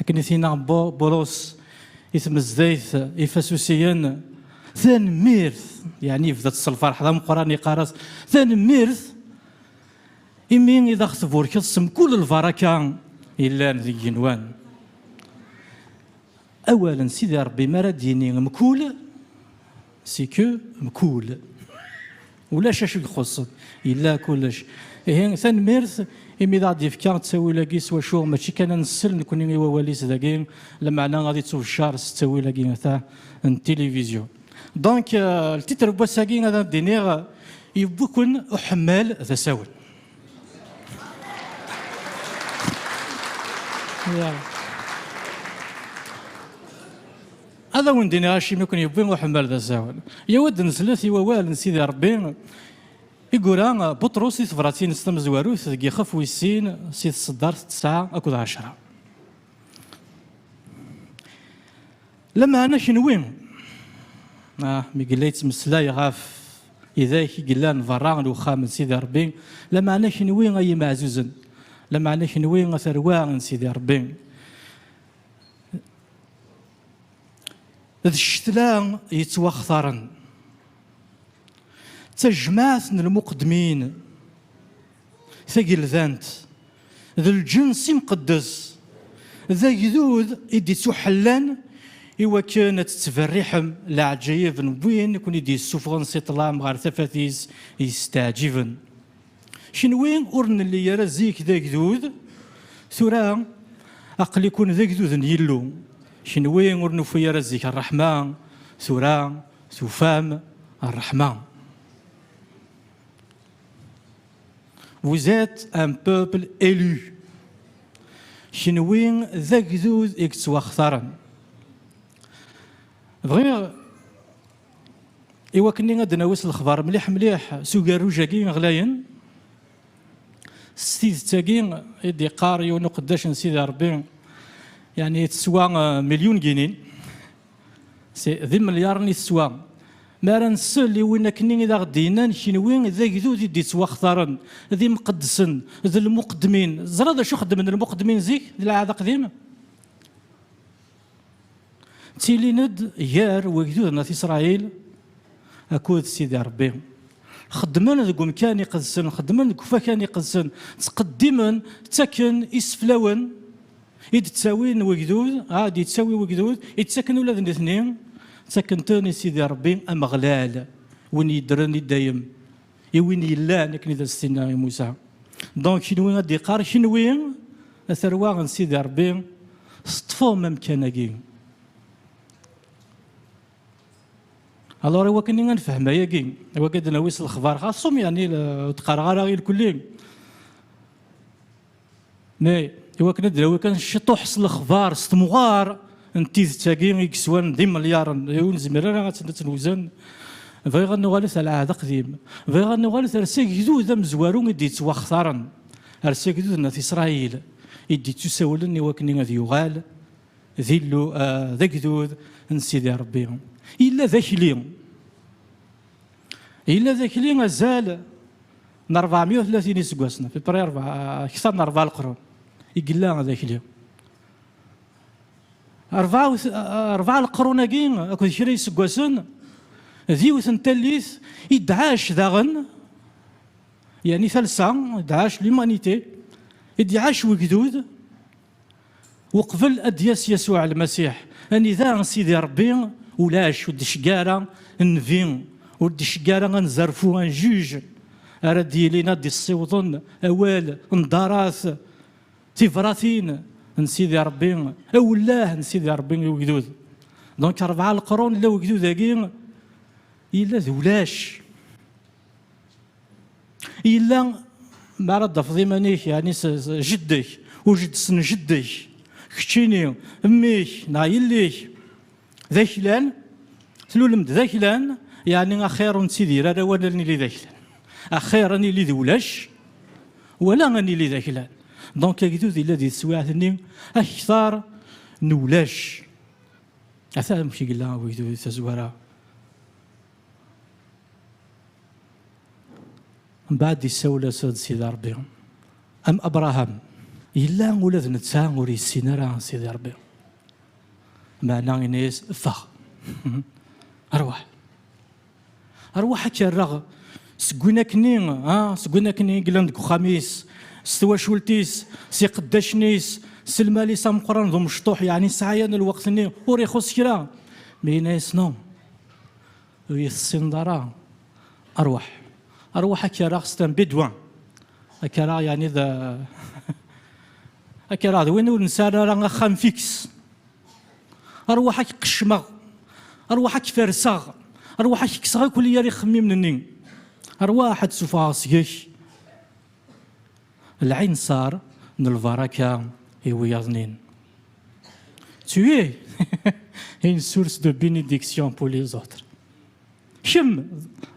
Akken i t-yenna Burus i tmezdayt ifasusiyen, tanemmirt, yeɛni yebda-tt s lferḥ d ameqqran, yeqqar-as, tanemmirt imi i d aɣ-tburkeḍ s mkul lbaraka yellan deg yigenwan. Awal n Sidi Rebbi mi ara d-yini mkul, c'est que mkul. Ulac acu ixuṣṣen, yella kullec. Ihi, tanemmirt imi d aɣ-d-yefka ttawil-agi s wacu mačči kan ad nessel nekkni i wawal-is dagi, lameɛna ad ittubeccar s ttawil-agi ata n tilivizyu. Donc, le titre n wass-agi ad am-d-iniɣ, Yewwi-ken uḥemmal d asawen. Ad awen-d-iniɣ acimi i ken-yewwi uḥemmal d asawen. Yewwi-d neslet i wawal n Sidi Ṛebbi i yura Buṭrus di tebṛat-ines tamezwarut deg yixef wis sin si tseddart tesɛa akked ɛecṛa. Lameɛna kenwi, ah, mi yella yettmeslay ɣef idak i yellan beṛṛa n wexxam n Sidi Ṛebbi, lameɛna kenwi ay imeɛzuzen, lameɛna kenwi a tarwa n Sidi Ṛebbi, d ccetla yettwaxtaren d tajmaɛt n lmuqeddmin tageldant d lǧens imqeddes d agdud i d-ittuḥellan i wakken ad tettberriḥem leɛǧayeb n win i ken-id-yessufɣen si ṭṭlam ɣer tafat-is yesteɛǧiben. Kenwi ur nelli ara zik d agdud, tura aql-ikun d agdud n Yillu. Kenwi ur nufi ara zik ṛṛeḥma, tura tufam ṛṛeḥma. Vous êtes un peuple élu. Kenwi d agdud i yettwaxtaren. Bɣiɣ. Iwakken ad d-nawi s lexbar mliḥ mliḥ s ugerruj-agi ɣlayen, s tidet-agi i d-yeqqar yiwen uqeddac n Sidi Rebbi, yeɛni teswa milyun ginin, si, d imelyaṛen i teswa, mi ara nsel i win akkenni i d aɣ-d-yennan, Kenwi d agdud i d-yettwaxtaren, d imqeddsen, d lmuqeddmin. Teẓriḍ d acu xeddmen lmuqeddmin zik, di lɛahd aqdim? Ttilin-d gar wegduden At Isṛayil akked Sidi Ṛebbi. Xeddmen deg umkan iqedsen, xeddmen deg ufakan iqedsen, ttqeddimen, ttaken iseflawen i d-ttawin wegdud, a d-yettawi wegdud, i ttaken ula d nitni, ttaken-ten i Sidi Ṛebbi Ameɣlal, win yeddren i dayem. I win yellan, akken i d as-tenna i Musa, donc kenwi ad d-iqqar kenwi a tarwa n Sidi Rebbi teṭṭfem amkan-agi. Alors iwakken i ad nefhem ayagi, iwakken ad nawi s lexbar xaṣum, yani ur d-qqareɣ ara ilkulli, Nay, iwakken ad d-nawi kan ciṭuḥ s lexbar, s temɣar n tidet-agi i yeswan d imelyaṛen, ur nezmir ara ad tt-newzen, bɣiɣ ad nuɣalet ar lɛahd aqdim, bɣiɣ ad nuɣalet ar s agdud amezwaru i d-yettwaxtaren, ar s agdud n At Isṛayil i d-yettusawlen iwakken ad yuɣal d Illu, d agdud n Sidi Ṛebbi. Yella d akli. Yella d akli azal n ṛebɛemya u tlatin iseggasen, à peu près akteṛ n ṛebɛa leqrun i yella d akli. Ṛebɛa leqrun-agi akked kra iseggasen, d yiwet n tallit i d-tɛac daɣen, yani talsa, d-tɛac l'humanité, i d-iɛac wegdud, Uqbel ad d-yas Yasuɛ Lmasiḥ, anida n Sidi Ṛebbi, ulac, ur d-icegga ara nnbi, ur d-icegga ara anzerfu, un juge, ara d-yilin ad d-issiwḍen awal, nḍarat, tibratin, n Sidi Ṛebbi, awellah n Sidi Ṛebbi i ugdud. Donc ṛebɛa leqrun la ugdud-agi yella d ulac. Yella mi ara d-tafeḍ iman-ik, yeɛni s jeddak, ujeddes n jeddak, keččini, mmi-k neɣ yelli-k d aklan, tlulem-d d aklan, yeɛni axir ur nettidir ara wala ad nili d aklan. Axir ad nili d ulac wala ad nili d aklan. Donc agdud yella di teswiɛt-nni akteṛ n ulac. Ata amek yella wegdud tazwara. Mbeɛd isawel-as ad Sidi Rebbi, am Abraham, yella ula d netta ur yessin ara Sidi Rebbi. Meɛna yenna-yas, Ffeɣ! Rwaḥ! Rwaḥ ad k-rreɣ seg win akkenni, ha, seg win akkenni i yellan deg uxxam-is, s twacult-is, s iqeddacen-is, s lmal-is ameqqran d umecṭuḥ, yeɛni sɛaya n lweqt-nni ur ixuṣṣ kra. Mi yenna-yas, No! ur iyi-tessineḍ ara, rwaḥ, rwaḥ ad k-rreɣ s tambidwa, ad k-rreɣ yeɛni d ad k-rreɣ d win ur nesɛi ara axxam fiks, rwaḥ ad k-qeccmeɣ, rwaḥ ad k-ferseɣ, rwaḥ ad k-kkseɣ akk yal ixemmimen-nni, rwaḥ ad d-ssuffɣeɣ seg-k. Lɛinṣer n lbaraka i wiyaḍ-nin. Tu es une source de bénédiction pour les autres. Kemm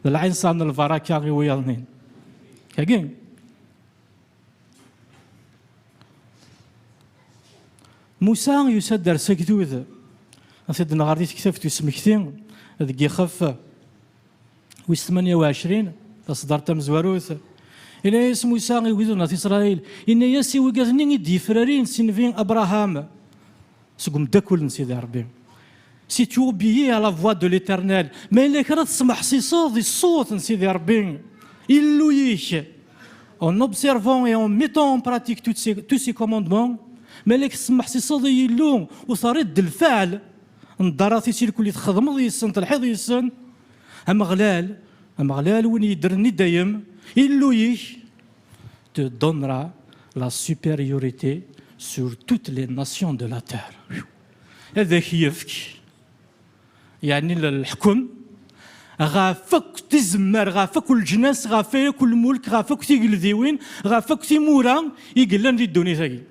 d lɛinṣer n lbaraka i wiyaḍ-nin. Yagi. Musa yusa-d ar Sagdud, ad t-id-nɣer di tektabt usmekti deg yixef Wis 28, taṣeddart tamezwarut. Yenna-yas Musa i wid n At Isṛayil, yenna-yas i wigad-nni i d-yefrarin si nnbi Abraham, seg umeddakel n Sidi Ṛebbi, Si tu obéis à la voix de l'Éternel, ma yella kra tesmeḥsiseḍ i ṣṣut n Sidi Ṛebbi, Illu-ik, en observant et en mettant en pratique tous ses, tous ses commandements, ma yella tesmeḥsiseḍ i Yillu u terriḍ-d lfeɛl n ddaṛat-is irkul i txedmeḍ yis-sen, telḥiḍ yis-sen, Ameɣlal, Ameɣlal win yeddren i dayem, Illu-ik te donnera la supériorité sur toutes les nations de la terre. Ad ak-yefk, yeɛni leḥkem, ɣef akk tizemmar, ɣef akk leǧnas, ɣef akk lmulk, ɣef akk tigeldiwin, ɣef akk timura i yellan di ddunit-agi.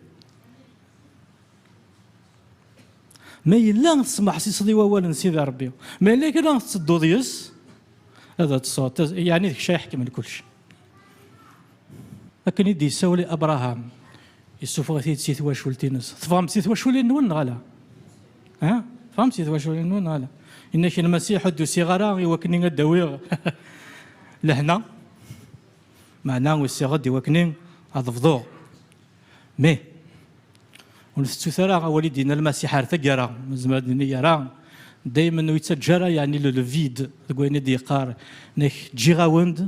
Ma yella tesmeḥsiseḍ i wawal n Sidi Rebbi, ma yella kra tettedduḍ yes, ad ṭṭseḍ, yeɛni d kečč ay iḥekmen kullec. Akken i d-yessawel i Abṛaham, yessufeɣ-it-id si twacult-nnes. Teffɣem-d si twaculin-nwen neɣ ala? Ha? Teffɣem-d si twaculin-nwen neɣ ala? Yenna-ak Lmasiḥ, ur d-usiɣ ara i wakken ad d-awiɣ lehna, meɛna usiɣ-d i wakken ad bḍuɣ. Mi, ur ntettut ara awal i d-yenna Lmasiḥ ar taggara, nezmer ad nini yerra, daymen ur yettaǧǧa ara yeɛni le le vide deg wayen i d-yeqqar, nek ǧǧiɣ-awen-d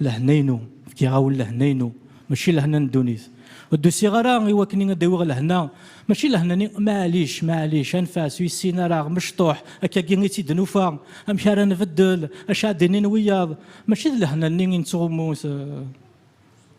lehna-inu, fkiɣ-awen lehna-inu, mačči lehna n ddunit. Ur d-usiɣ ara i wakken ad awiɣ lehna, mačči lehna-nni, maɛlic, maɛlic, anef-as, ur yessin ara, mecṭuḥ, akka-agi i tt-id-nufa, amek ara nbeddel, acu ara d-inin wiyaḍ, mačči d lehna-nni i nettɣummu,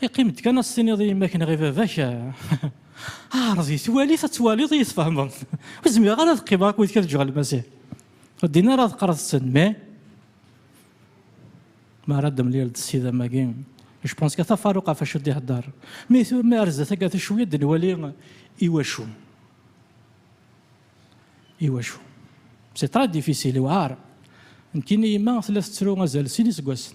Iqqim-d kan ad s-tiniḍ i yemma-k neɣ i baba-k, ɛreḍ it, wali-t ad twaliḍ i yi-tfehmeḍ. Ur zmireɣ ara ad qqimeɣ akked kra deg Lmasiḥ. Ur ddin ara ad qqareḍ-ten, mais mi ara d-temlileḍ s idammen-agi, je pense que tafaruq ɣef wacu d-ihedder. Mais tura mi ara zdat akka tu cwi ad nwali iwacu. Iwacu. C'est très difficile, iwɛer. Nekkini yemma tella tettru azal sin iseggasen.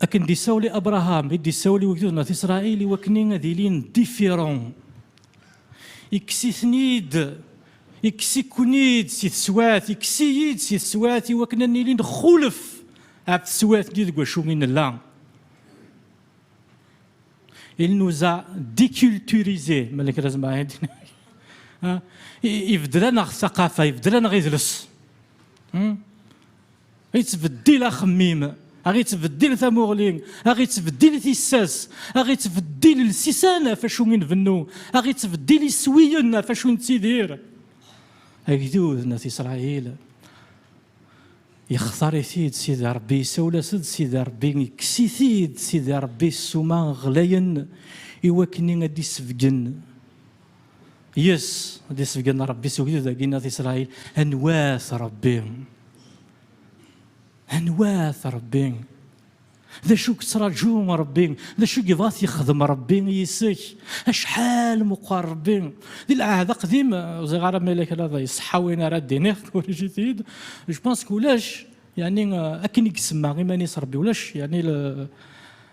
Akken d-isawel i Abraham, i d-isawel i wegdud n At Isṛail i wakni ad ilin different. Ikkes-iten-id, ikkes-iken-id si teswat, ikkes-iyi-d si teswat i wakn ad nili nxulef ɣef teswat-nni deg wacu i nella. Il nous a deculturisés, ma yella kra zemreɣ ad d-iniɣ. Ibeddel-aneɣ taqafa, ibeddel-aneɣ idles. Ittbeddil axemmim, aɣ ittbeddil tamuɣli, aɣ ittbeddil tissas, aɣ ittbeddil lsisan ɣef acu i nbennu, aɣ ittbeddil iswiyen ɣef acu i nettidir. Agdud n At Isṛail, yextar-it-id Sidi Ṛebbi, isawel-as-d Sidi Ṛebbi, ikkes-it-id Sidi Ṛebbi ssuma ɣlayen, iwakken ad d-isebgen. Yes, ad d-isebgen Rebbi s ugdud agi n At Isṛail, anwa-t Rebbi? Anwa-t Rebbi? D acu i yettraǧu Rebbi? D acu i yebɣa ad t-yexdem Rebbi yis-k? Acḥal meqqer Rebbi! Di lɛahd aqdim, ur ẓriɣ ara ma yella kra iṣeḥḥa win ara d-iniɣ, corrigez-it-id, je pense que ulac, yeɛni akken i isemma iman-is Rebbi, ulac yeɛni le,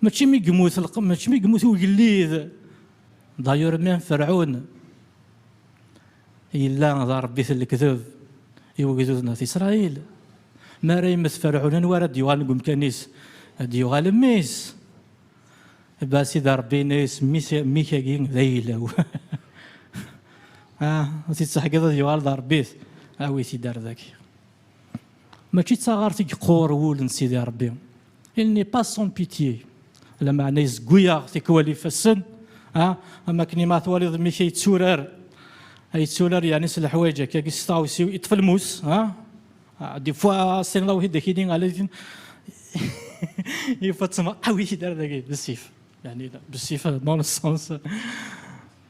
Mačči mi yemmut lqem, mačči mi yemmut ugellid. Dayur même Ferɛun yella d arebbit n lekdeb i wegduden at Isṛayil. Mi ara yemmet Ferɛun, anwa ara d-yuɣalen deg umkan-is? Ad d-yuɣal mmi-s. Ba Sidi Ṛebbi yenna-yas, Mmi-k-agi d ayla-w. Ad t-id-teḥkiḍ ad yuɣal d arebbit, awi-t-id ar daki. Mačči d taɣart i yeqqur wul n Sidi Ṛebbi, il n'est pas sans pitié, lameɛna yezgu-yaɣ tikwal ifassen, am akken i ma twaliḍ mmi-k ay yetturar, ay yetturar yeɛni s leḥwayeǧ akka-agi, s tɣawsiw, yeṭṭef lmus, des fois tessneḍ awḥid d akini, ala tin yuffa ttmer, awi-yi-d ar dagi, d ssif, yeɛni d ssif dans le sens.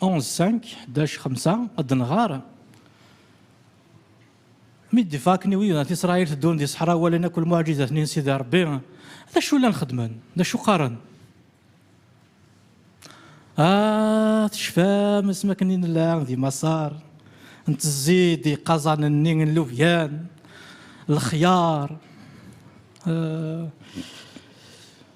11.5-5 ad d-nɣer, Mi d-ifakken i wid n At Isṛayil teddun di ṣṣeḥra, walan akk lmuɛǧizat-nni n Sidi Ṛebbi, d acu llan xeddmen? D acu qqaren? A, tecfam asmi akken i nella di Maṣer, ntezzi-d iqaẓanen-nni n lubyan, lexyar,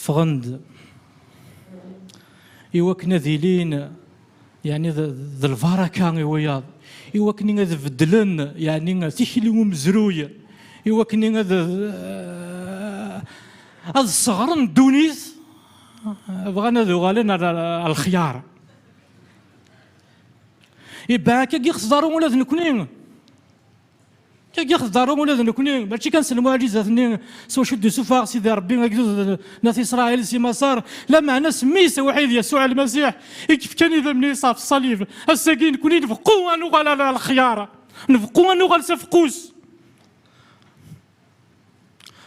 Ffɣen-d i wakken ad ilin yani d lbaraka i wiyaḍ i wakken ad beddlen yani tikli umezruy i wakken ad ad sseɣren ddunit bɣan ad uɣalen ar lxyar ibɛak agi xeẓdaru ula d nekni Tagi xdaru ula d nekni, mačči kan s lmuɛjizat-nni s wacu d-isuffeɣ Sidi Ṛebbi agdud n At Isṛail si Maṣer, lameɛna s mmi-s awḥid Yasuɛ Lmasiḥ i yefkan idammen-is ɣef ṣṣalib. Ass-agi nekni nbeqqu ad nuɣal ar lexyar, nbeqqu ad nuɣal s afeqqus,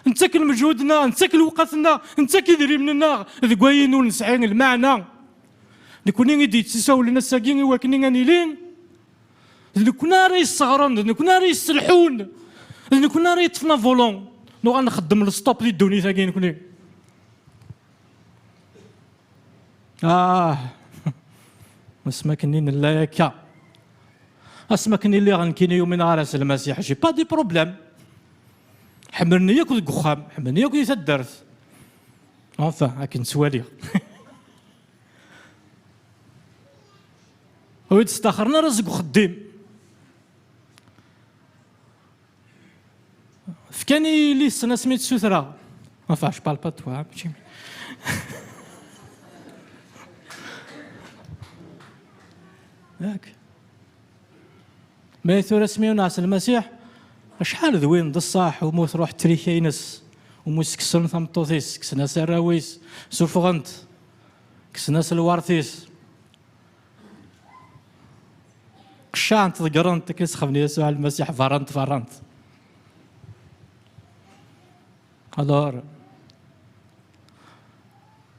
nettak lmeǧhud-nneɣ, nettak lewqat-nneɣ, nettak idrimen-nneɣ deg wayen ur nesɛi lmeɛna. Nekni i d-yettisawlen ass-agi i wakni ad nili d nekkni ara yesseɣren d nekkni ara yesselḥun d nekkni ara yeṭṭfen avulun nuɣal nxeddem lestop di ddunit agi nekkni ah asmakken i nella yakka asmakken i lliɣ nekkini yumineɣ ara s lmasiḥ j'ai pas de problème ḥemmlen-iyi akk deg uxxam ḥemmlen-iyi akk di taddart enfin akken ttwaliɣ Ur yi-d-staxren ara seg uxeddim. Fkan-iyi yelli-tsen asmi tt-sutreɣ. Enfin, je parle pas de toi, hein, Yak. Mais tura asmi ur nɛas Lmasiḥ, acḥal d win d ṣṣaḥ umi truḥ trika-ines, umi skessen tameṭṭut-is, kksen-as arraw-is, suffɣen-t, kksen-as lwart-is. qeccaɛent ḍeggrent akken sexben Yasuɛ Lmasiḥ berrant berrant alors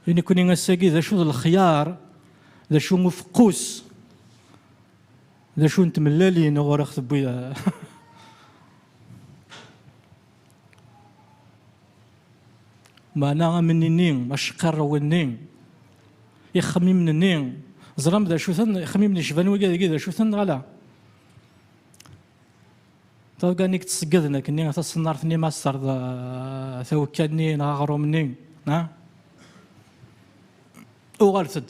i nekkni ass-agi d acu d lexyar d acu n ufeqqus d acu n tmellalin ɣur ax tewwi Meɛna amini-nni, acqirrew-nni, ixemmimen-nni, ẓram d acu-ten, ixemmimen yecban wigi dagi d acu-ten neɣ ala? Tabga nni yettṣeggeden akkenni taṣennart-nni ma s-terḍ tawekka-nni neɣ aɣrum-nni, uɣalet-d.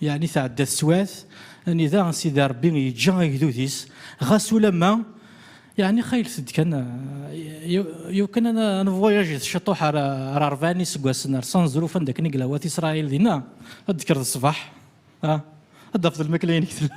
Yeɛni tɛedda teswiɛt, anida Sidi Ṛebbi yeǧǧa agdud-is, ɣas ulamma yeɛni xaylet-d kan, yiw kan ad nvuyajet ciṭuḥ ar ṛebɛa n yiseggasen, ar Ṣanzruf anda akken i yella wat Isṛail, dinna ad d-tekkreḍ ṣṣbeḥ, ad d-tafeḍ lmakla-inek tella.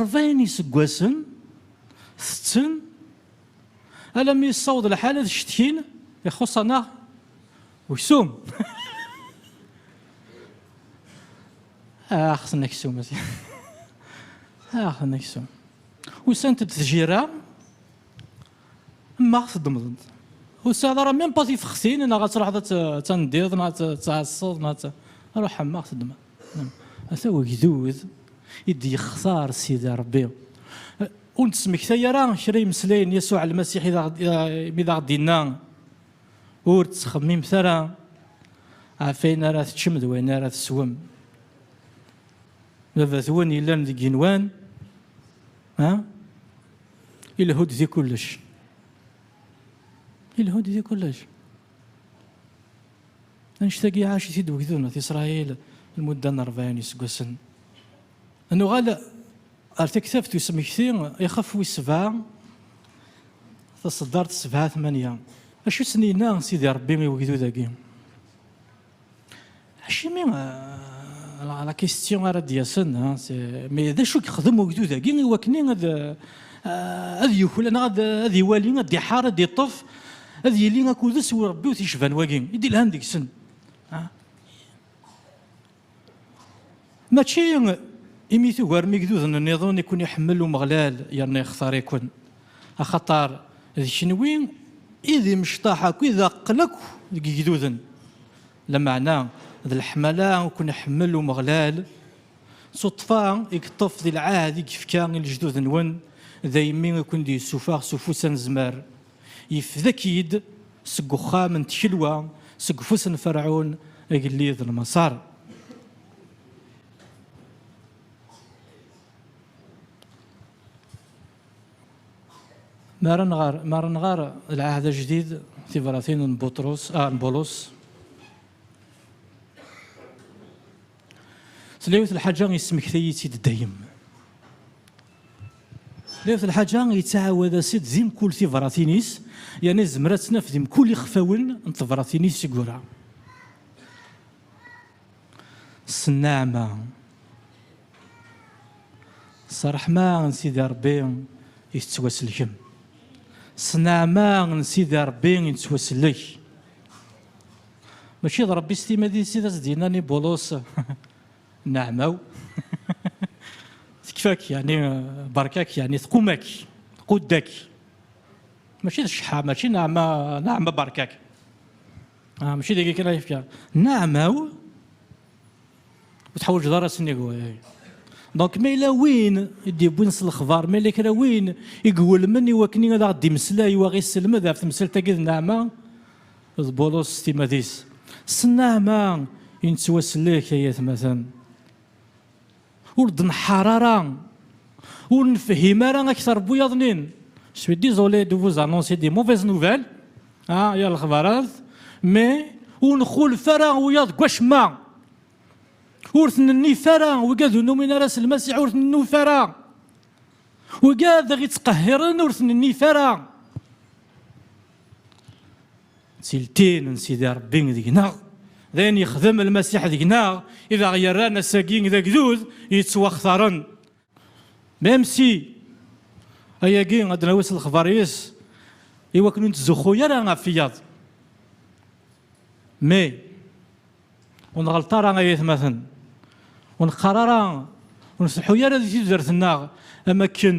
Ṛebɛin iseggasen tetten alammi yessaweḍ lḥal ad cetkin, ixuṣṣ-aneɣ uksum. Ax n aksum a sidi, ax n aksum. Usant-d tjirra, maɣ teddmeḍ-d? Ur tesɛiḍ ara même pas tifextin neɣ ad truḥeḍ ad tandiḍ neɣ ad tɛasseḍ neɣ ad, ruḥ maɣ teddmeḍ? Ata wegdud i d-yextar Sidi Ṛebbi. Ur nettmektay ara kra imeslayen n Yasuɛ Lmasiḥ imi d aɣ-d-yenna, Ur ttxemmimet ara ɣef wayen ara teččem d wayen ara teswem. Baba-twen yellan deg yigenwan ilehu-d di kullec. Ilehu-d di kullec. Annect-agi iɛac-it-id ugdud n At Isṛayil lmudda n ṛebɛin iseggasen. Ad nuɣal ar taktabt n usmekti ixef wis sebɛa, taṣeddart sebɛa tmanya. Acu i sen-yenna Sidi Ṛebbi i ugdud-agi? Acimi la question ara d-yasen, mais d acu i yexdem ugdud-agi i wakken ad yuklal neɣ ad iwali, ad iḥar, ad iṭṭef, ad yili akud-s i urebbi u t-yecban wagi i d-ilhan deg-sen? Mačči imi tugarem igduden nniḍen i ken-iḥemmel Umeɣlal yerna ixtar-iken, axaṭer d kenwi i d imecṭaḥ akk-i d aqqel akk deg igduden, lameɛna d leḥmala i ken-iḥemmel Umeɣlal, d tuṭṭfa i yeṭṭef di lɛahd i yefka i lejdud-nwen, daymi i ken-d-yessuffeɣ s ufus anezmar, yefdek-id seg uxxam n tkelwa, seg ufus n Ferɛun, agellid n Maṣer. Mi ara nɣer Lɛehd Ajdid, tibratin n Bulus, tella yiwet n lḥaǧa yesmekti-yi-tt-id dayem. Tella yiwet n lḥaǧa yettɛawad-as-id di mkul tibratin-is, yerna yezmer ad tt-naf di mkul ixfawen n tebratin-is i yura. s nneɛma, s ṛṛeḥma n Sidi Ṛebbi i tettwasellkem. S nneɛma n Sidi Ṛebbi i nettwasellek. Mačči d Ṛebbi s timmad-is i d as-d-yennan i Bulus, Nneɛma-w tekfa-k, yeɛni beṛka-k, yeɛni tqum-ak, tqudd-ak. Mačči d cceḥḥa, mačči nneɛma, nneɛma beṛka-k. Ah, mačči dagi kan ay yefka nneɛma-w ur teḥwaǧeḍ ara sennig waya. Donc ma yella win i d-yewwin s lexbar, ma yella kra win i iwulmen i wakken ad aɣ-d-imeslay u aɣ-isselmed ɣef temsalt-agi d nneɛma, d Bulus s timad-is. S nneɛma i nettwasellek ay atmaten. Ur d-neḥḥar ara, ur nefhim ara akter n wiyaḍ-nin. Je suis désolé de vous annoncer des mauvaises nouvelles, ah, yir lexbarat, mais ur nxulef ara wiyaḍ deg wacemma. Ur ten-nnif ara, wigad ur numin ara s Lmasiḥ ur ten-nnuf ara. Wigad i ɣ-ittqehhiren ur ten-nnif ara. d tiltin n Sidi Ṛebbi deg-neɣ, d ayen yexdem Lmasiḥ deg-neɣ i d aɣ-yerran ass-agi d agdud yettwaxtaren. Même si ayagi ad d-nawi s lexbar-is i wakken ur nettzuxxu ara ɣef wiyaḍ. Mais ur nɣelleṭ ara ay atmaten, ur neqqar ara, ur nfelḥu ara di tudert-nneɣ am wakken,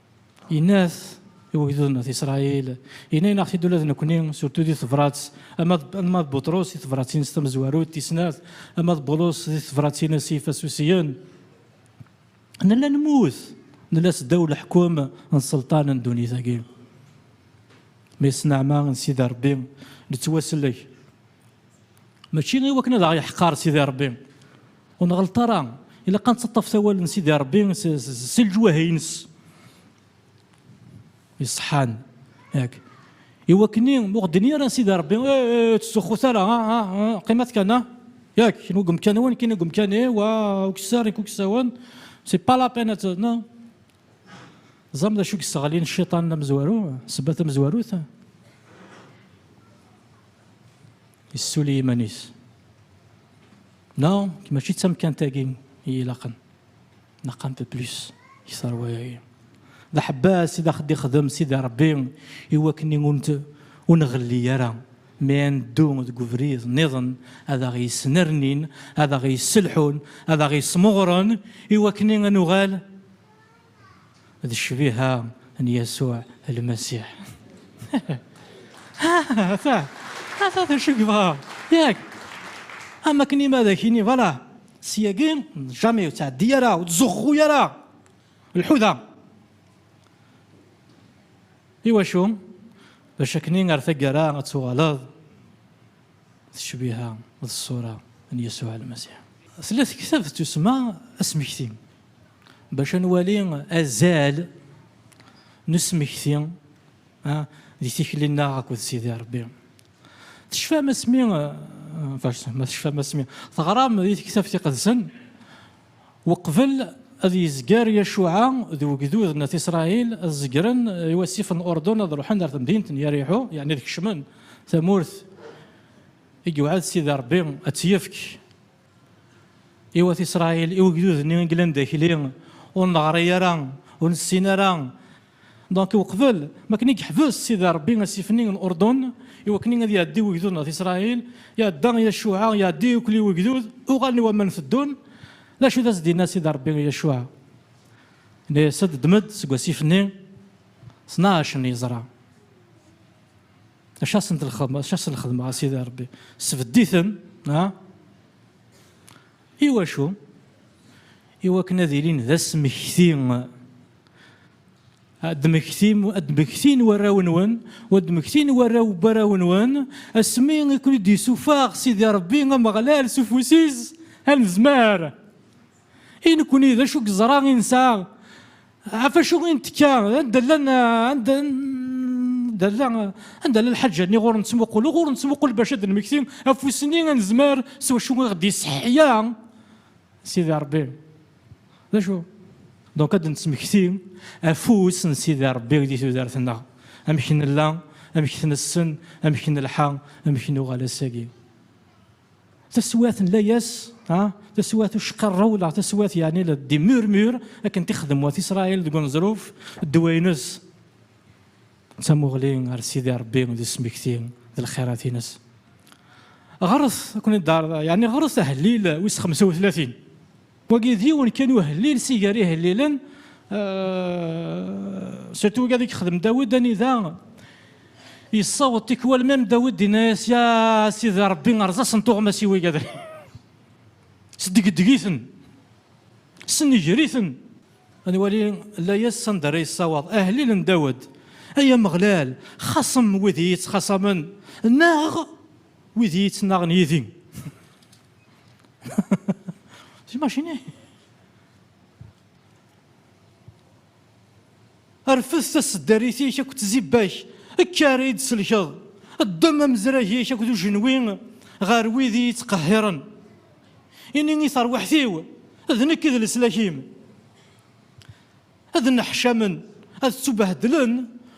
Yenna-t i wegdud n At Isṛayil, yenna-aneɣ-t-id ula d nekkni, surtout di tebrat, ama d ama d Buṭrus di tebrat-ines tamezwarut, tis snat, ama d Bulus di tebrat-ines i Ifasusiyen, nella nemmut, nella seddaw leḥkem n ṣelṭan n ddunit-agi. Mais s nneɛma n Sidi Ṛebbi nettwasellek, mačči i wakken ad aɣ-yeḥqer Sidi Ṛebbi, Ur nɣelleṭ ara, ilaq ad nettaṭṭaf tawal n Sidi Ṛebbi si leǧwahi-ines iṣeḥḥan. Yak, i wakken-i ma ur ɣ-d-yenni ara Sidi Ṛebbi, Eh, eh, ur ttzuxxut ara, ah, ah, ah, qqimet kan, ah, yak, kenwi deg umkan-nwen, nekkini deg umkan-iw, ah, ukessar, nekk ukessawen, c'est pas la peine ad t-, non? Teẓram d acu i yesseɣlin cciṭan amezwaru, ssebba tamezwarut? Yessuli iman-is. Neɣ mačči d tamkant-agi i ilaqen. Neɣ un peu plus i ṣṣerwa-agi. D aḥebbas i d aɣ-d-ixdem Sidi Ṛebbi i wakken ur nɣelli ara mi ad neddu deg ubrid nniḍen, ad aɣ-yesnernin, ad aɣ-yesselḥun, ad aɣ-yesmeɣren i wakken ad nuɣal D ccbiha n Yasuɛ Lmasiḥ. Ata! Ata d acu i yebɣa, yak? Am akken i ma ad ak-yini, Vwala, syagi, jamais, ur ttɛeddi ara, ur ttzuxxu ara, lḥu da! Iwacu? Bac akkenni ar taggara ad tuɣaleḍ. Tecbiha d ṣṣura n Yasuɛ Lmasiḥ. Tella tektabt tussma Asmekti bac ad nwali azal n usmekti di tikli-nneɣ akked Sidi Rebbi. Tecfam asmi, ma tecfam asmi teɣram di tektabt iqedsen, Weqbel ad yezger Yacuɛa d ugdud n At Isṛail, ad zegren i wasif n Uṛdun, ad ṛuḥen ar temdint n Yariḥu, yeɛni ad kecmen tamurt i yewɛed Sidi Ṛebbi ad tt-yefk i Wat Isṛail, i ugdud-nni i yellan d akli, ur neɣri ara, ur nessin ara. Donc uqbel ma akken i yeḥbes Sidi Rebbi asif-nni n Urdun i wakken ad iɛeddi wegdud ɣef Isṛayil, iɛedda i Yacuɛa, iɛedda yukel-i wegdud, uɣalen i waman teddun. D acu i d as-d-yenna Sidi Rebbi i Yacuɛa? Yenna-yas-d, Ddem-d seg wasif-nni tnac n yeẓra, acu asen-d lxedmeɣ, acu asen-lxedmeɣ a Sidi Rebbi? Sbedd-iten, ah! I wacu? I wakken ad ilin d asmekti, ad d-mmektin warraw-nwen, u ad d-mmektin warraw n warraw-nwen, asmi i ken-id-yessufeɣ Sidi Ṛebbi Ameɣlal s ufus-is anezmar. I nekni, d acu i yeẓra i nesɛa? Ɣef acu i nettekka anda llan anda anda la anda la lḥaǧa-nni ɣur nettmuqul ɣur nettmuqul bac ad nmekti afus-nni ad nezmer s wacu i ɣ-d-yesseḥya Sidi Rebbi. D acu? Donc ad nettmekti afus n Sidi Rebbi di tudert-nneɣ. Amek nella, amek t-nessen, amek nelḥa, amek nuɣal ass-agi. Taswiɛt n layas, ha, taswiɛt uceqqar rawleɣ, taswiɛt yeɛni la d murmure akken t-ixdem wat Israël deg uneẓruf, ddwa-ines d tamuɣli ɣer Sidi Rebbi d usmekti d lxirat-ines. Ɣret, ad ken-id-ɛerḍeɣ, yeɛni ɣret ahellil wis xemsa u tlatin. Wagi d yiwen kan uhellil si gar ihellilen, surtout wagi ad yexdem Dawed, anida yessaweḍ tikwal même Dawed yenna-yas, Ya Sidi Rebbi, rẓasen tuɣmas-iw igadri, sdegdeg-iten, ssenger-iten. Ad nwali layas s anda ara yessaweḍ ahellil n Dawed, Ay Ameɣlal, xaṣem wid i yi-yettxaṣamen, naɣ wid i yi-yettnaɣen yid-i. C'est imaginé. Rfed taseddarit-ik akked tzibbak, kker i d-tselkeḍ. Ddem amezrag-ik akked ujenwi ɣer wid i yi-ttqehhiren. Ini i terwiḥt-iw, d nekk i d leslak-im. Ad nneḥcamen, ad ttubehdlen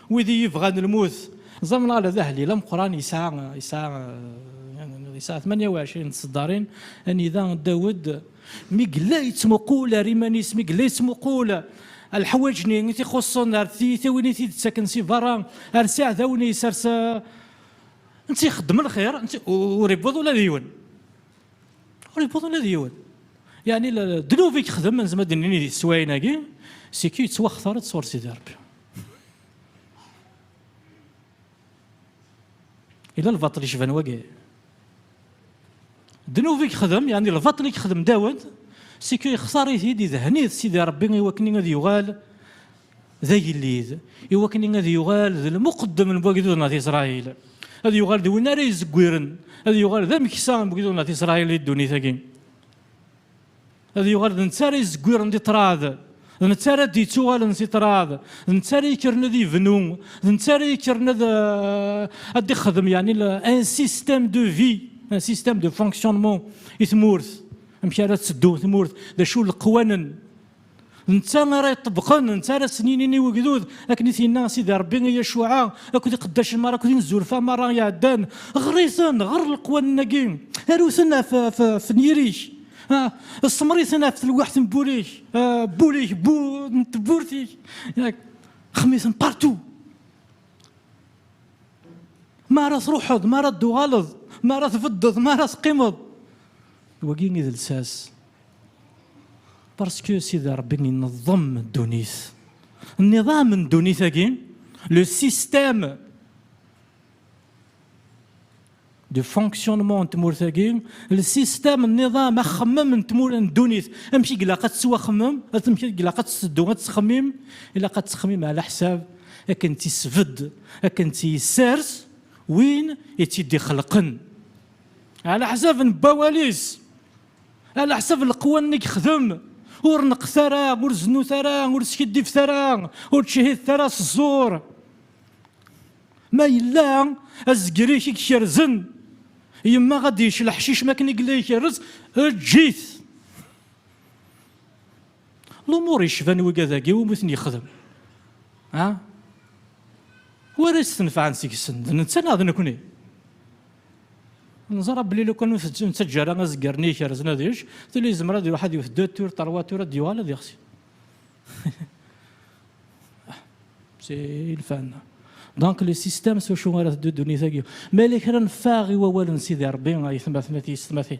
wid i yi-bɣan lmut. Zamlal d ahellil ameqqran, yesɛa tmanya u ɛecrin n tseddarin, anida Dawed mi yella yettmuqul ar iman-is, mi yella yettmuqul ar leḥwaǧ-nni i t-ixuṣṣen, ar tiyitawin i t-id-ttaken si berra, ar s iɛdawen-is, ar s, netta ixeddem lxir, ur iwwiḍ ula d yiwen. Ur yewwiḍ ula d yiwen. Yeɛni ddnub i yexdem, nezmer ad d-nini di teswayin-agi, seg-k yettwaxtar-d sɣur Sidi Ṛebbi. Yella lbaṭel yecban wagi. Ddnub i yexdem, yeɛni lbaṭel i yexdem Dawed, seg-k yextar-it-id, idhen-it Sidi Ṛebbi i wakken ad yuɣal d agellid, i wakken ad yuɣal d lmuqeddem n wagdud n At Isṛayil, ad yuɣal d win ara izeggiren, ad yuɣal d ameksa n wagdud n At Isṛayil di ddunit-agi, ad yuɣal d netta ara izeggiren di ṭṭrad, d netta ara d-ittuɣalen si ṭṭrad, d netta ara yekkren ad ibnu, d netta ara yekkren ad ad d-ixdem yeɛni un système de vie, un système de fonctionnement i tmurt, amek ara tetteddu tmurt, d acu leqwanen, Netta ara yeṭṭebqen, netta ara s-ninin i wegdud, akken i t-yenna Sidi Rebbi i Yacuɛa akked iqeddacen merra akked inezzurefa merra iɛeddan, Ɣer-iten, ɣer leqwanen-agi, aru-ten ɣef nyir-ik, ssemmer-iten ɣef telweḥt n wul-ik, wul-ik, n tewwurt-ik, yak, xemmiten partout. Mi ara truḥeḍ, mi ara d-tuɣaleḍ, mi ara tbeddeḍ, mi ara teqqimeḍ, wagi i d lsas. Parce que Sidi Rebbi ineḍḍem ddunit. Nniḍam n ddunit-agi, le système de fonctionnement n tmurt-agi, le système nniḍam axemmem n tmurt n ddunit, amek i ilaq ad tettwaxemmem, amek i ilaq ad tetteddu, ad tettxemmim, ilaq ad tettxemmim ɛla ḥsab akken tt-isbedd, akken tt-yessers win i tt-id-ixelqen. Ɛla ḥsab n wawal-is. Ala ḥsab leqwa nni gexdem, ur neqqet ara, ur zennut ara, ur skiddibet ara, ur ttcehhidet ara s ẓẓur. Ma yella azger-ik i ikerzen, yemma ad d-yečč leḥcic mi akken i yella ikerrez, eǧǧ-it. Lumuṛ yecban wigadagi iwumi i ten-yexdem, ha? Wi ara yestenfɛen seg-sen, d netta neɣ d nekkni? Neẓra belli lukan ur t-nettaǧǧa ara azeggar-nni ikerzen ad yečč, tili yezmer ad iruḥ ad iwet deux tours, trois tours, ad yuɣal ad yexsi. C'est une fin. Donc le système s wacu ara teddu ddunit-agi. Ma yella kra neffeɣ i wawal n Sidi Rebbi, ayetma-tma tiyessetma-ti.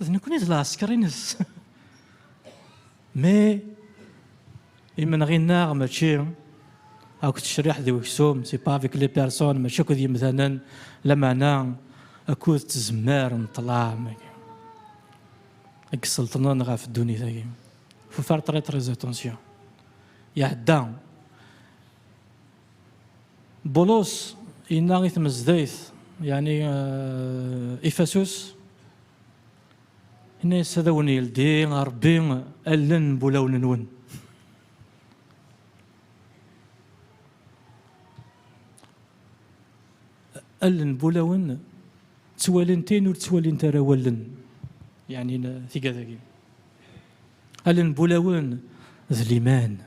D nekkni i d lɛesker-ines. Mi imenɣi-nneɣ mačči akk d tecriḥt d weksum, c'est pas avec les personnes, mačči akk d yemdanen, lameɛna akk d tzemmar n ṭṭlam-agi i iselṭnen ɣef ddunit-agi. Faut faire très très attention. Iɛedda. Bulus yenna i tmezdayt, yeɛni Ifasus, yenna-yas, Ad awen-yeldi Rebbi allen n wulawen-nwen. Allen n wulawen ttwalint ayen ur ttwalint ara wallen, yeɛni tigad-agi. Allen n wulawen d liman.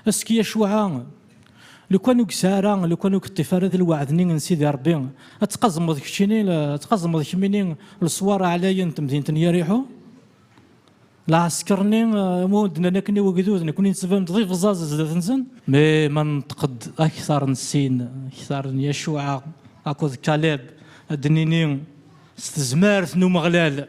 Aski acuɛa, lukan ur yesɛi ara, lukan ur yeṭṭif ara di lweɛd-nni n Sidi Ṛebbi, ad tqazmeḍ keččini, ad tqazmeḍ kemmini leṣwar ɛlayen n temdint n Yariḥu? Lɛesker-nni umi d-nnan akken i wegdud, nekkni nettban-d d ibẓaẓ zdat-nsen? Mi ma nenṭeq-d akteṛ n sin, akteṛ n Yacuɛa akked Kaleb, ad d-nini, s tezmert n Umeɣlal,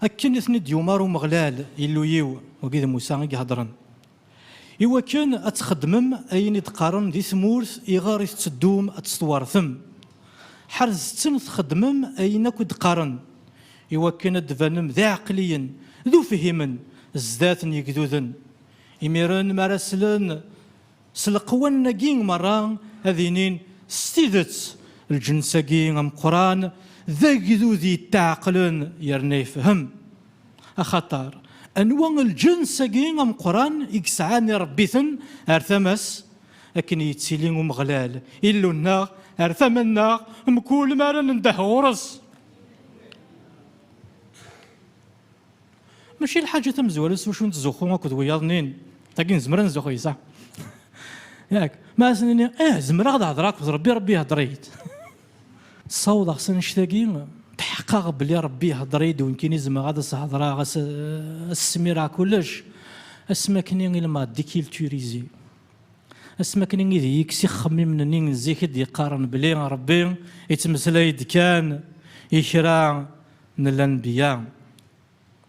Akken i ten-id-yumar Umeɣlal, Illu-iw, wagi d Musa i ihedren, i wakken ad txeddmem ayen i d-qqaren di tmurt iɣer i tetteddum ad tt-twertem, ḥerzet-ten txeddmem ayen akk i d-qqaren, i wakken ad d-banem d iɛeqliyen, d ufihimen, zdat n yegduden, imiren mi ara slen. S leqwanen-agi merra ad inin s tidet lǧens-agi ameqqran d agdud yetteɛqlen yerna yefhem. Axaṭer, anwa lǧens-agi ameqqran i yesɛan iṛebbi-ten ar tama-s? Akken i yettili Umeɣlal, Illu-nneɣ, ar tama-nneɣ mkul mi ara nendeh ɣur-s. Mačči lḥaǧa tamezwarut s wacu nettzuxxu akked wiyaḍ-nni, dagi nezmer ad nzuxxu yes-s. Yak, ma asen-nini, ih, zemreɣ ad hedreɣ akked Rebbi, Rebbi ihedder-iyi-d. Ssawḍeɣ s annect-agi, tḥeqqeɣ belli Rebbi ihedder-iyi-d unkini zemreɣ ad as-hedreɣ, ad as-smireɣ kullec, asmi akk-nni il m'a déculturisé. Asmi akk-nni i d-iyi-yekkes ixemmimen-nni n zik i d-yeqqaren belli Rebbi yettmeslay-d kan i kra, n lanbiya,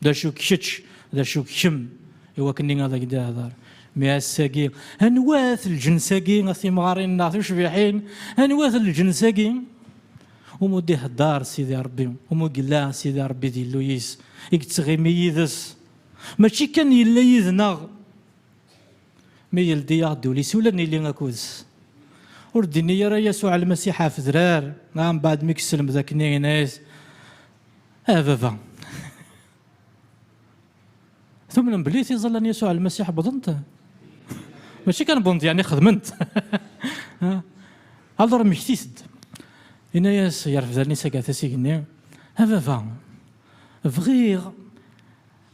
d acu-k kečč, d acu-k kemm, i wakken-nni ad ak-d-ihder. Mi ass-agi, anwa-t lǧens-agi, a timɣarin neɣ tucbiḥin, anwa-t lǧens-agi umi d-ihder Sidi Rebbi, umi yella Sidi Rebbi d Illu-is, i yettɣimi yid-s, mačči kan yella yid-neɣ, Mi yeldi aɣ-d ul-is ula nili akud-s. Ur d-inni ara Yasuɛ Lmasiḥ ɣef drar, dɣa mbeɛd mi yesselmed akken i yenna-yas, Ah Baba! Tumnem belli tiẓalla n Yasuɛ Lmasiḥ wwḍent? Mačči kan wwḍent, yeɛni xedment. Alur mmektit-d. Yenna-yas gar fdalen-is aggatas igenni, A Baba! Bɣiɣ.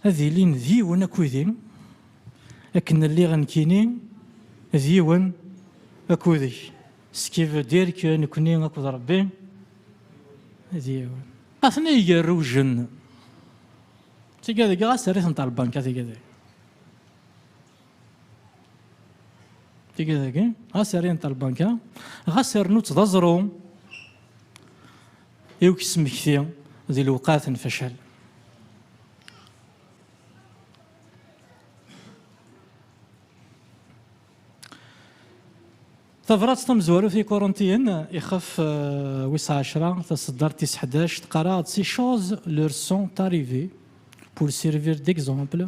ad ilin d yiwen akudi, akken lliɣ nekkini d yiwen akudek, ce qui veut dire que nekkni akked Rebbi d yiwen. Atni yigerrujen. Tigga deg ɣas terri-tent ɣer lbanka tigga deg. Tigga dagi ɣas rrin-t ɣer lbanka, ɣas rnu-tt d aẓru. i ukesmekti di lewqat n facal. Tabrat tamezwarut i Korintiyen, ixef wis ɛecra, taseddart tis ḥdac, teqqar-aɣ-d ces choses leur sont arrivées pour servir d'exemple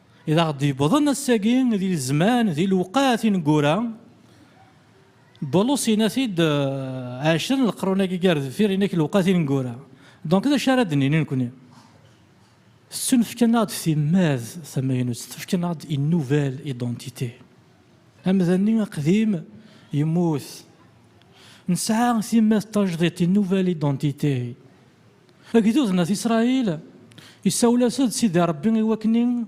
I d aɣ-d-yewwḍen ass-agi di zzman, di lewqat ineggura, Bulus yenna-t-id ɛecra n leqrun-agi gar deffir, yenna-k lewqat ineggura. Donc d acu ara d-nini nekkni? Tettunefk-aneɣ-d timmad tamaynut, tettunefk-aneɣ-d une nouvelle identité. Amdan-nni aqdim yemmut. Nesɛa timmad tajdidt, une nouvelle identité. Agdud n At Isṛail isawel-as-d Sidi Ṛebbi i wakni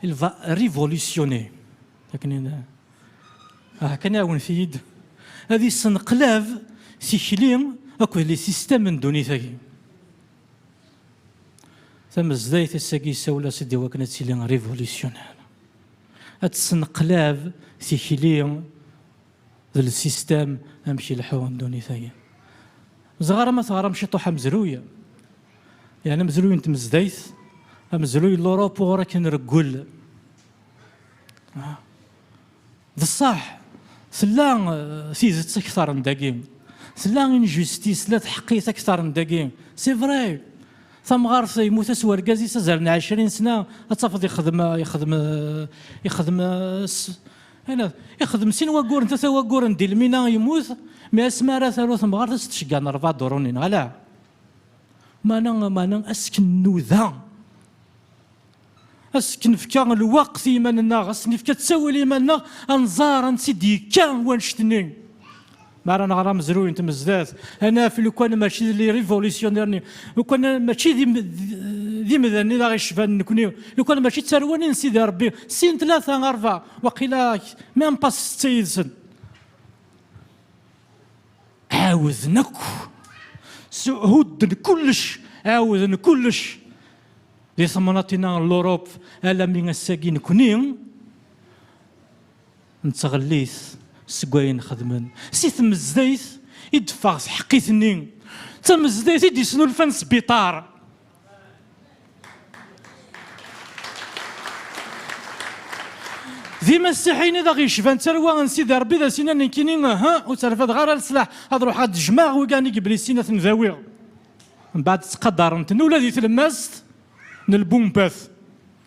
il va révolutionner akni ah kan ɛawnet-iyi-d ad issenqlab tikli akked les systèmes n ddunit-agi. Tamezdayt ass-agi isawel-as-d i wakni ad tili révolutionnaire, ad tessenqlab tikli. D lsistam amek i leḥḥuɣ ddunit-agi. Zɣar ama teɣram ciṭuḥ amezruy, yeɛni amezruy n tmezdayt, amezruy n Lurup uɣur akka nreggel. D ṣṣeḥ, tella tidet akteṛ n dagi, tella injustice, tella tḥeqqit akteṛ n dagi. C'est vrai! Tamɣart yemmut-as wergaz-is azal n ɛecrin sna ad tafeḍ yexdem, yexdem, yexdem s, Anad, ixdem sin wagguren, tata wagguren di lmina yemmut, mi asmi ara taru temɣart ad s-tcegga n rrba duṛuni, neɣ ala? Mana, mana asken nuda, asken fka lweqt i yiman-nneɣ, asken fka ttawil i yiman-nneɣ, ad nẓer ansi d-yekka wannect-nni. Mi ara nɣer amezruy n tmezdat, ad naf lukan mačči d les révolutionnaires-nni, lukan mačči d imdanen i aɣ-icban nekkni, lukan mačči d tarwa-nni n Sidi Ṛebbi, sin, tlata, ṛebɛa, waqila même pas setta yid-sen. Ɛawden akk, hudden kullec, ɛawden kullec di temnaḍt-inna n l'Europe, alammi ass-agi nekkni, Nettɣellit seg wayen xedmen. Si tmezdayt i d-teffeɣ tḥeqqit-nni, d tamezdayt i d-yesnulfan sbiṭar. D imasiḥiyen i d aɣ-yecban d tarwa n Sidi Ṛebbi, d as-innan nekkini uhu, ur tterfadeɣ ara leslaḥ, ad ruḥeɣ ad jjmeɣ wigan i yiblisin ad ten-dawiɣ. Mbeɛd ttqadaren-ten ula di tlemmast n lbumbat.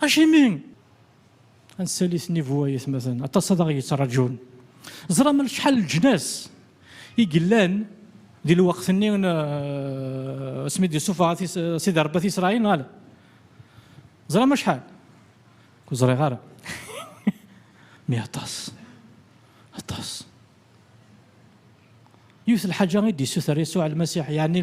Acimi? Ad nsali snibu ay atmaten, aṭas ad aɣ-yettraǧun. Ẓram acḥal leǧnas i yellan di lweqt-nni asmi d-yessufeɣ Sidi Rebbi At Isṛail, neɣ ala? Ẓram acḥal? Ur ẓriɣ ara. Mi aṭas, aṭas. Yiwet lḥaǧa i d-yessuter Yasuɛ Lmasiḥ, yeɛni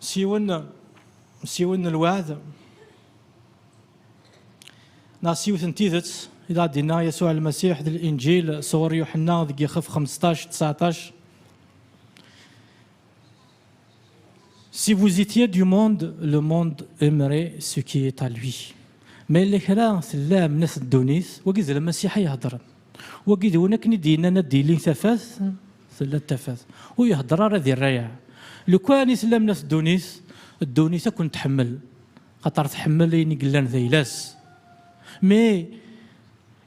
s yiwen s yiwen n lweɛd neɣ s yiwet n tidet i d aɣ-d-inna Yasuɛ Lmasiḥ d Linǧil sɣur Yuḥenna deg yixef 15, 19. Si vous étiez du monde, le monde aimerait ce qui est à lui. Ma yella kra tellam nat ddunit, wagi d Lmasiḥ ay iheddren. Wagi d win akken i d-yennan ad d-ilin tafat Tella d tafat. Ur ihedder ara di rrayeɛ. Lukan i tellam la teddunit, ddunit ad kent-tḥemmel. Axaṭer tḥemmel ayen i yellan d ayla-s. Mais,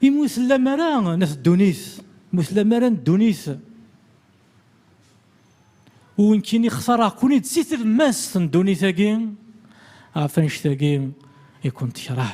imi ur tellam ara la teddunit, mi ur tellam ara n ddunit, unkini xtareɣ-ken-id si tlemmast n ddunit-agi, ɣef annect-agi i kent-tekṛeh.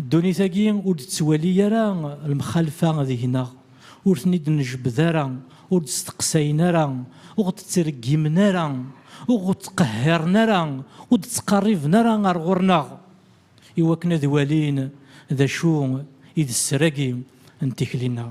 Ddunit-agi ur d-tettwali ara lemxalfa deg-neɣ, ur ten-id-nejbed ara, ur d-steqsayen ara, ur ɣ-d-ttreggimen ara, ur ɣ-d-ttqehhiren ara, ur d-ttqerriben ara ɣer ɣur-neɣ iwakken ad walin d acu i d sser-agi n tikli-nneɣ.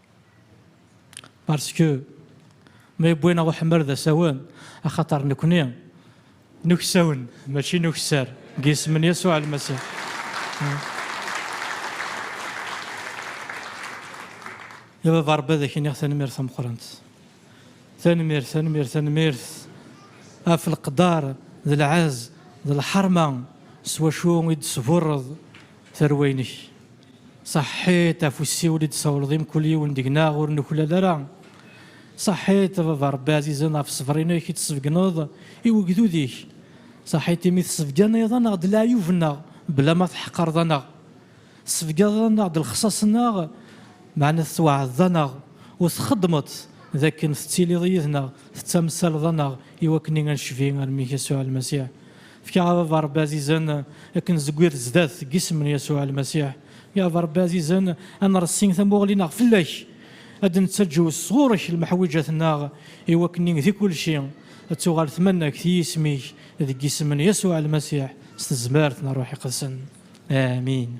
Parce que ma yewwi-aneɣ uḥemmer d asawen, axaṭer nekkni n uksawen, mačči n ukessar, deg yisem n Yasuɛ Lmasiḥ. A Baba Ṛebbi ad ak-iniɣ tanemmirt tameqqrant. Tanemmirt, tanemmirt, tanemmirt ɣef leqder d lɛezz d lḥerma s wacu i d-tesburreḍ. Tarwa-inek, saḥḥit ɣef usiwel i d-tsawleḍ i mkul yiwen deg-neɣ, ur nuklal ara. Saḥḥit a baba Rebbi ɛzizen ɣef ṣṣber-inek i d-tsebgneḍ i wegdud-ik. Saḥḥit imi tsebganeḍ aneɣ-d leɛyub-nneɣ bla ma tḥeqqreḍ aneɣ. Tsebganeḍ aneɣ-d lexṣaṣ-nneɣ meɛna tettwaɛdeḍ aneɣ u txeddmeḍ-t dakken tettiliḍ yid-neɣ tettamsaleḍ aneɣ i wakken i a necbi ar mmi-k Yasuɛ Lmasiḥ. Fkiɣ a baba Rebbi azizen ad k-nezgir zdat deg isem n Yasuɛ Lmasiḥ. Ya baba Rebbi azizen, ad nressi tamuɣli-nneɣ fell-ak, ad d-nettaǧew sɣur-k lemḥwiǧat-nneɣ, i wakken i di kulci ad tuɣal tmanegt i yisem-ik, deg isem n Yasuɛ Lmasiḥ, s tezmert n Ṛṛuḥ Iqedsen. Amin.